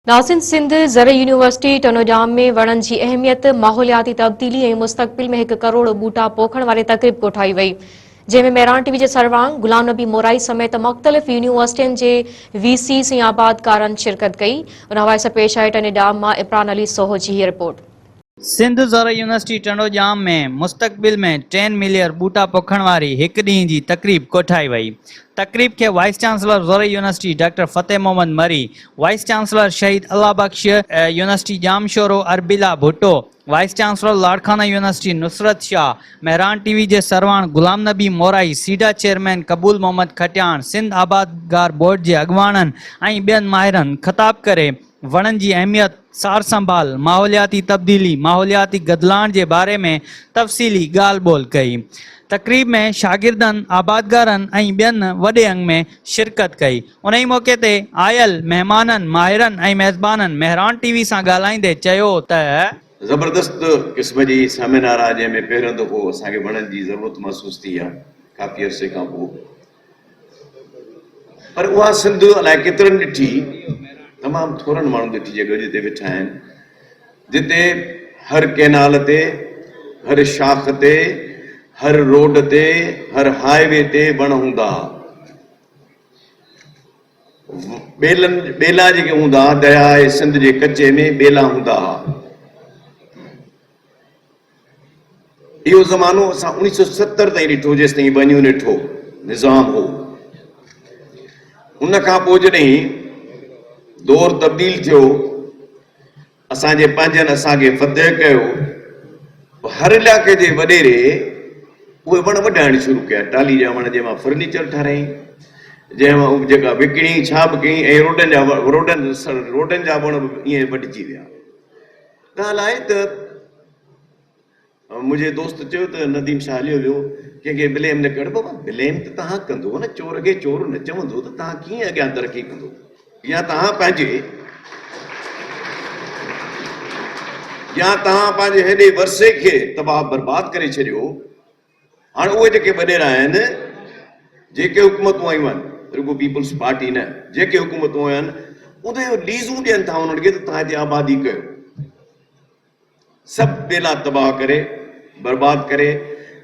ناظرين سنڌ زرعي يونيورسٽي ٽنوڄام ۾ وڻن جي اهميت، ماحولياتي تبديلي ۽ مستقبل ۾ هڪ ڪروڙ ٻوٽا پوکڻ واري تقريب ڪوٺائي وئي. جنهن ۾ مهراڻ ٽي وي جي سروانگ غلام نبي مورائي سميت مختلف يونيورسٽين جي وي سيز ۽ آبادگارن شرڪت ڪئي. ان حوالي سان پيش آهي ٽني ڊام مان عمران علي سوهو جي هيء رپورٽ. سنڌ زرعي يونيورسٽي ٽنڊو ڄام ۾ مستقبل ۾ ٽين ملير ٻوٽا پوکڻ واري هڪ ڏينهن جي تقريب ڪوٺائي وئي. تقريب کي وائيس چانسلر زرعي university doctor Fateh Muhammad Marri, vice chancellor Shaheed Allah Bux, university Jamshoro Arbela Bhutto, vice chancellor Larkana university Nusrat Shah, Mehran T V جي سرواڻ غلام نبي مورائي، سيڊا چيئرمين قبول محمد کٽياڻ، سنڌ آبادگار بورڊ جي اڳواڻن ۽ ٻين ماهرن خطاب ڪري وڻن جي اهميت، سار سنڀال، ماحولياتي تبديلي، ماحولياتي گدلاڻ جي باري ۾ تفصيلي ڳالهه ٻولهه ڪئي. تقريب ۾ شاگردن، آبادگارن ۽ ٻين وڏي انگ ۾ شرڪت ڪئي. انهي موقعي تي آيل مهمانن، ماهرن ۽ ميزبانن مهراڻ ٽي وي سان ڳالهائيندي چيو ته. زبردست قسم جي سيمينار آهي جنهن ۾ پهريون دفعو اسان کي وڻن جي ضرورت محسوس ٿي آهي ڪافي عرصي کان پوء. پر اها سنڌ الائي ڪيترن ڏٺي، تمام ٿورن ماڻهن ڏٺي جي گڏ اتي ويٺا آهن، جتي هر ڪئنال تي، هر شاخ تي، هر روڊ تي، هر هاء وي تي وڻ هوندا ها. ٻيلن، ٻيلا جيڪي هوندا ها، درياهه سنڌ جي ڪچي ۾ ٻيلا هوندا ها. اهو زمانو اسان اوڻيهه سئو ستر تائين ڏٺو جيستائين ٻه يونٽ هو نظام هو ان کان پوء جڏهن دور تبديل ٿيو اسان جي پنهنجن اسان کي فتح ڪيو هر علائقي جي وڏيري اهي وڻ وڍائڻ شروع ڪيا ٽالي جا وڻ جنهن مان فرنيچر ٺارايائين جنهن مان جيڪا وڪڻي ڇا به ڪيائين ۽ روڊن جا روڊن روڊن جا وڻ به ائين وڍجي ويا ڳالهه آهي ته منهنجي دوست چيو ته نديم شاهه هليو ويو، ڪنهن کي بليم نه ڪر بابا، بليم ته توهان ڪندو نه، چور کي چور نه چوندو ته توهان ڪيئن اڳيان ترقي ڪندو يا توهان پنهنجي يا توهان پنهنجي هيڏي ورثي کي تباهه برباد ڪري ڇڏيو. هاڻ اهي جيڪي وڏيرا آهن، جيڪي حڪومتون آيون آهن، رڳو پيپلز پارٽي نه، جيڪي حڪومتون آيون آهن، اهي ليزون ڏين ٿا انهن کي ته توهان هتي آبادي ڪيو. سڀ ٻيلا تباهه ڪري، برباد ڪري،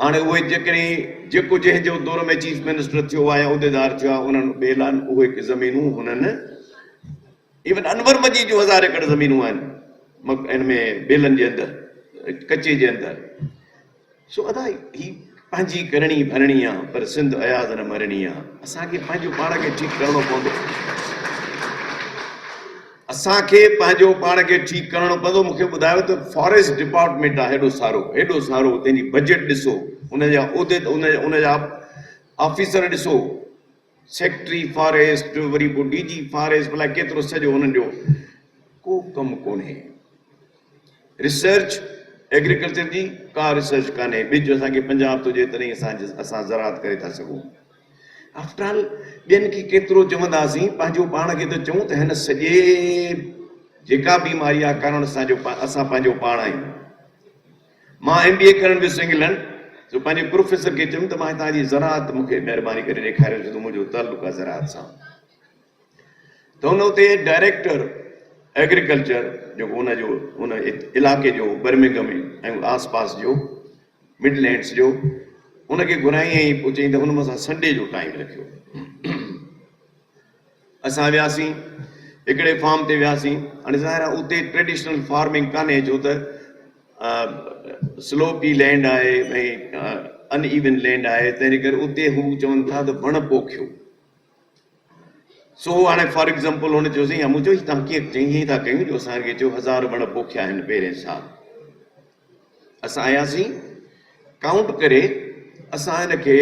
هاڻ اهي جيڪڏهن جيڪو جنهن جو دور ۾ چيف منسٽر ٿيو آهي يا عهديدار ٿيو آهي، انهن ٻيلن اهي زمينون هنن ايون انور مجيد جون هزار ايڪڙ زمينون آهن، ان ۾ ٻيلن جي اندر، ڪچي جي اندر. سو ادا هي پنهنجي ڪرڻي ڀرڻي آ پر سنڌ اياز نه مرڻي آ اسان کي پنهنجو پاڻ کي ٺيڪ ڪرڻو پوندو اسان کي پنهنجو پاڻ کي ٺيڪ ڪرڻو پوندو مونکي ٻڌايو ته فاريسٽ ڊپارٽمينٽ آ هيڏو سارو هيڏو سارو تنهنجي بجيٽ ڏسو ان جا عهديد ان جا آفيسر ڏسو سيڪريٽري فاريسٽ وري پوء ڊي جي فاريسٽ بلا ڪيترو سڄو انهن جو ڪو ڪم ڪونهي ريسرچ ايگريڪلچر جي ڪا ريسرچ ڪانهي ٻج اسان کي پنجاب ٿو ڏي تڏهن اسان اسان زراعت ڪري ٿا سگهون آفٽرال ٻين کي ڪيترو چونداسين پنهنجو پاڻ کي ته چئون ته هن سڄي جيڪا بيماري آ ڪارڻ اسان جو اسان پنهنجو پاڻ آهيون مان ايم بي اي ڪرڻ ويس انگلنڊ جو پنهنجي پروفيسر کي چيم ته مان هتان جي زراعت مون کي مهرباني ڪري ڏيکاريو ڇو ته منهنجو تعلق آهي زراعت سان ته هن اتي ڊائريڪٽر ايگريڪلچر جيڪو ان جو ان علائقي جو برمنگم ۽ آس پاس جو مڊ لينڊس جو ان کي گهرائين ۽ پوء چيائين ته هن مون سان سنڊي جو ٽائيم رکيو اسان وياسين هڪڙي فارم تي وياسين هاڻي ظاهر آهي اتي ٽريڊيشنل فارمنگ ڪانهي ڇو ته سلوپي لينڊ آهي ۽ ان ايون لينڊ آهي تنهنجي ڪري اتي هو چون ٿا ته وڻ پوکيو سو هاڻي فار ايگزامپل هن چيو سائين مون چيو تنهن ڪيئن چئين ائين ٿا ڪيون جو اسان کي چيو هزار وڻ پوکيا آهن پهرين سال اسان آياسين ڪائونٽ ڪري اسان هن کي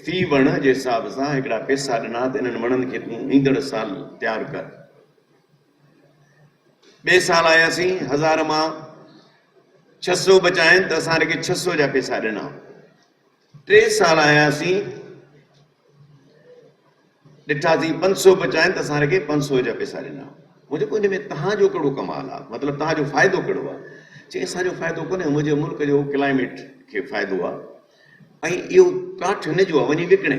في وڻ جي حساب سان هڪڙا پيسا ڏنا ته انهن وڻن کي تون ايندڙ سال تيار ڪر. ٻئي سال آياسين هزار مان ڇهه سو بچائين ته اسان هن کي ڇهه سو جا پيسا ڏنا ٽي سال آيا اسين ڏٺا سين پنج سو به چاهين ته اسان هر کي پنج سو جا پيسا ڏنا مون چيو ان ۾ تهان جو ڪهڙو ڪمال آ مطلب تهان جو فائدو ڪهڙو آ چيائين اسان جو فائدو ڪونهي منهنجي ملڪ جو ڪلائميٽ کي فائدو آ ۽ اهو ڪاٺ هن جو آ وڃي وڪڻي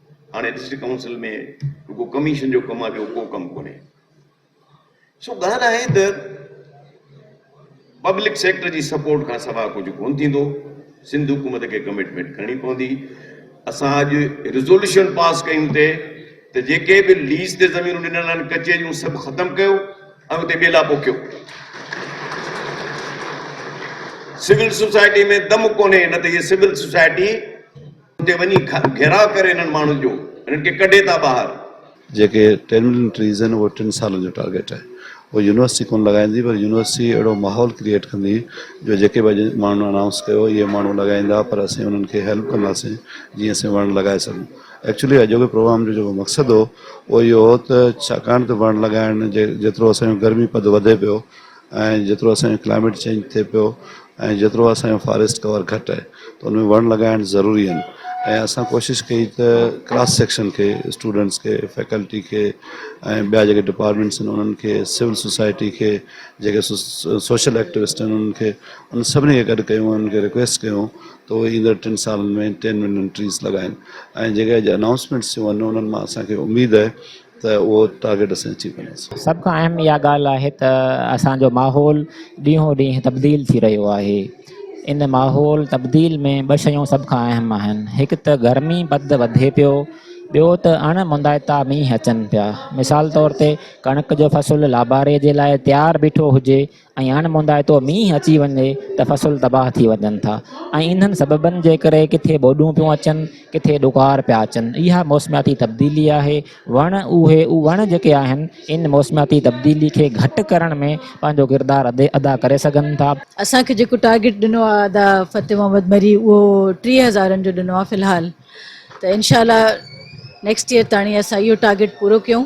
هاڻي ڊسٽرڪٽ ڪائونسل ۾ رڳو ڪميشن جو ڪم آهي ٻيو ڪو ڪم ڪونهي سو ڳالهه آهي ته پبلڪ سيڪٽر جي سپورٽ کان سوا ڪجهه ڪون ٿيندو سنڌ حڪومت کي ڪمٽمينٽ ڪرڻي پوندي اسان اڄ ريزولوشن پاس ڪيون تي ته جيڪي به ليز تي زمينون ڏنل آهن ڪچهريون سڀ ختم ڪيو ۽ اتي ٻيلا پوکيو سول سوسائٽي ۾ دم ڪونهي نه ته هي سول سوسائٽي اتي وڃي گهيراء ڪري انهن ماڻهن جو انهن کي ڪڍي ٿا ٻاهر. جيڪي ٽن ملين ٽريز آهن اهو ٽن سالن جو ٽارگيٽ آهي اهو يونيورسٽي ڪونه لڳائيندي پر يونيورسٽي اهڙو ماحول ڪريئيٽ ڪندي جو جيڪي به اڄ ماڻهن انائونس ڪيو اهي ماڻهو لڳائيندا پر اسين انهن کي هيلپ ڪنداسين جيئن اسين وڻ لڳائي سگهون ايڪچولي اڄوڪي پروگرام جو جيڪو مقصد هو اهو اهو هو ته ڇاڪاڻ ته وڻ لڳائڻ جي جيترو اسان جو گرمي پد وڌي پيو ۽ جيترو اسان جو ڪلائميٽ چينج ٿئي پيو ۽ جيترو اسان جو فاريسٽ ڪور گهٽ آهي ته ان ۾ وڻ لڳائڻ ضروري آهن ۽ اسان ڪوشش ڪئي ته ڪلاس سيڪشن کي اسٽوڊنٽس کي فيڪلٽي کي ۽ ٻيا جيڪي ڊپارٽمنٽس آهن انهن کي سول سوسائٽي کي جيڪي سوشل ايڪٽوسٽ آهن انهن کي ان سڀني کي گڏ ڪيون انهن کي رڪويسٽ ڪيون ته اهي ايندڙ ٽن سالن ۾ ٽين ملين ٽريز لڳائن ۽ جيڪي اڄ انائونسمينٽس ٿيون آهن انهن مان اسانکي اميد آهي ته اهو ٽارگيٽ اسين اچيو ڪنداسين. سڀ کان اهم اها ڳالهه آهي ته اسان جو ماحول ڏينهون ڏينهن تبديل ٿي رهيو آهي. ان ماحول تبديل ۾ ٻه شيون سڀ کان اهم آهن. هڪ ته گرمي پد وڌي پيو، ٻيو ته اڻ موندائتا مينهن اچن پيا. مثال طور تي ڪڻڪ جو فصل لاباري جي لاء تيار بيٺو هجي ۽ اڻ موندائتو مينهن اچي وڃي ته فصل تباهه ٿي وڃن ٿا ۽ انهن سببن جي ڪري ڪٿي ٻوڏون پيون اچن ڪٿي ڏڪار پيا اچن اها موسمياتي تبديلي آهي وڻ اهي وڻ جيڪي آهن ان موسمياتي تبديلي کي گهٽ ڪرڻ ۾ پنهنجو ڪردار ادا ڪري سگهن ٿا. اسان کي جيڪو ٽارگيٽ ڏنو آهي ادا فتح محمد مري اهو ٽيهه هزارن جو ڏنو آهي في الحال ته انشاء الله نيڪسٽ ييئر تاڻي اسان اهو ٽارگيٽ پورو ڪيون.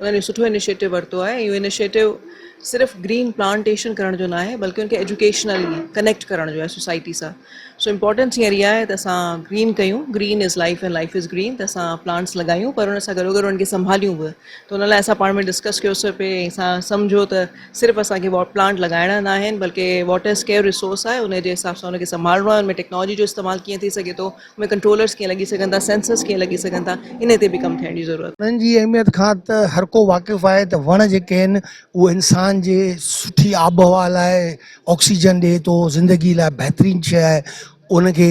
انهن اهو سٺو انيشيٽو ورتو آهي ۽ اهو انيشيٽو صرف گرين پلانٽيشن ڪرڻ جو ناهي بلڪه ان کي ايجوڪيشنلي ڪنيڪٽ ڪرڻ جو آهي سوسائٽي سان سو امپورٽنس هينئر اها آهي ته اسان گرين ڪيون green is life and life is green ته اسان پلانٽس لڳايون پر ان سان گڏو گڏ انهن کي سنڀاليون به ته ان لاء اسان پاڻ ۾ ڊسڪس ڪيوسي پئي ۽ اسان سمجهو ته صرف اسانکي پلانٽ لڳائڻا ناهن بلڪه واٽر اسڪيئر رسورس آهي ان جي حساب سان ان کي سنڀالڻو آهي ان ۾ ٽيڪنالاجي جو استعمال ڪيئن ٿي سگهي ٿو ۾ ڪنٽرولرز ڪيئن لڳي سگهن ٿا، سينسرز ڪيئن لڳي سگهن ٿا، انهي تي به ڪم ٿيڻ جي ضرورت آهي. وڻن جي اهميت کان ته هر ڪو واقف آهي ته وڻ جيڪي آهن اهو انسان جي سٺي آبهوا لاء آڪسيجن ڏئي ٿو، زندگي لاء بهترين شيء آهي، ان کي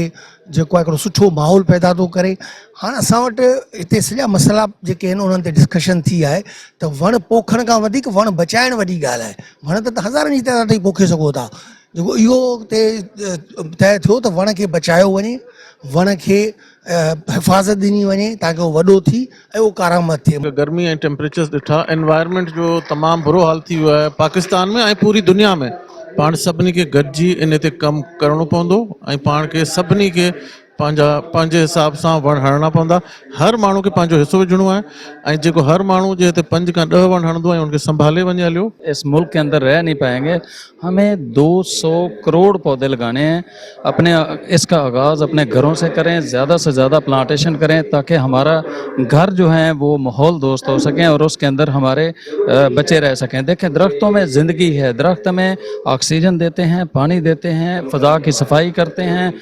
جيڪو آهي هڪڙو سٺو ماحول پيدا ٿو ڪري، هاڻ اسان وٽ هتي سڄا مسئلا جيڪي آهن انهن تي ڊسڪشن ٿي آهي ته وڻ پوکڻ کان وڌيڪ وڻ بچائڻ وڏي ڳالهه آهي، وڻ ته هزارن جي تعداد تائين پوکي سگهو ٿا، جيڪو اهو اتي طئي ٿيو ته وڻ کي بچايو وڃي وڻ کي حفاظت ڏني وڃي تاڪي اهو وڏو ٿي ۽ اهو ڪارآمد ٿئي. گرمي ۽ ٽيمپريچرز ڏٺا انوائرمينٽ جو تمام برو حال ٿي ويو آهي پاڪستان ۾ ۽ پوري دنيا ۾ پاڻ سڀني کي گڏجي انهي تي ڪم ڪرڻو پوندو ۽ پاڻ کي سڀني کي پنهنجا پنهنجي حساب سان وڻ هڻڻا پوندا هر ماڻهو کي پنهنجو حصو وجهڻو آهي ۽ جيڪو هر ماڻهو جي هتي پنج کان ڏهه وڻ هڻندو ۽ ان کي سنڀالي وڃي هليو. اس ملڪ ڪي اندر رهه نهي پائين گي همي دو سو ڪروڙ پودي لگاني هين اپني اس ڪا آغاز اپني گهرون سي ڪرين زياده سي زياده پلانٽيشن ڪرين تاڪه همارا گهر جو هين وو ماحول دوست هو سڪين اور اس ڪي اندر هماري بچي رهه سڪين ديکين درختون مي زندگي هي درخت همي آڪسيجن ديتي هين پاڻي ديتي هين فضا ڪي صفائي ڪرتي هين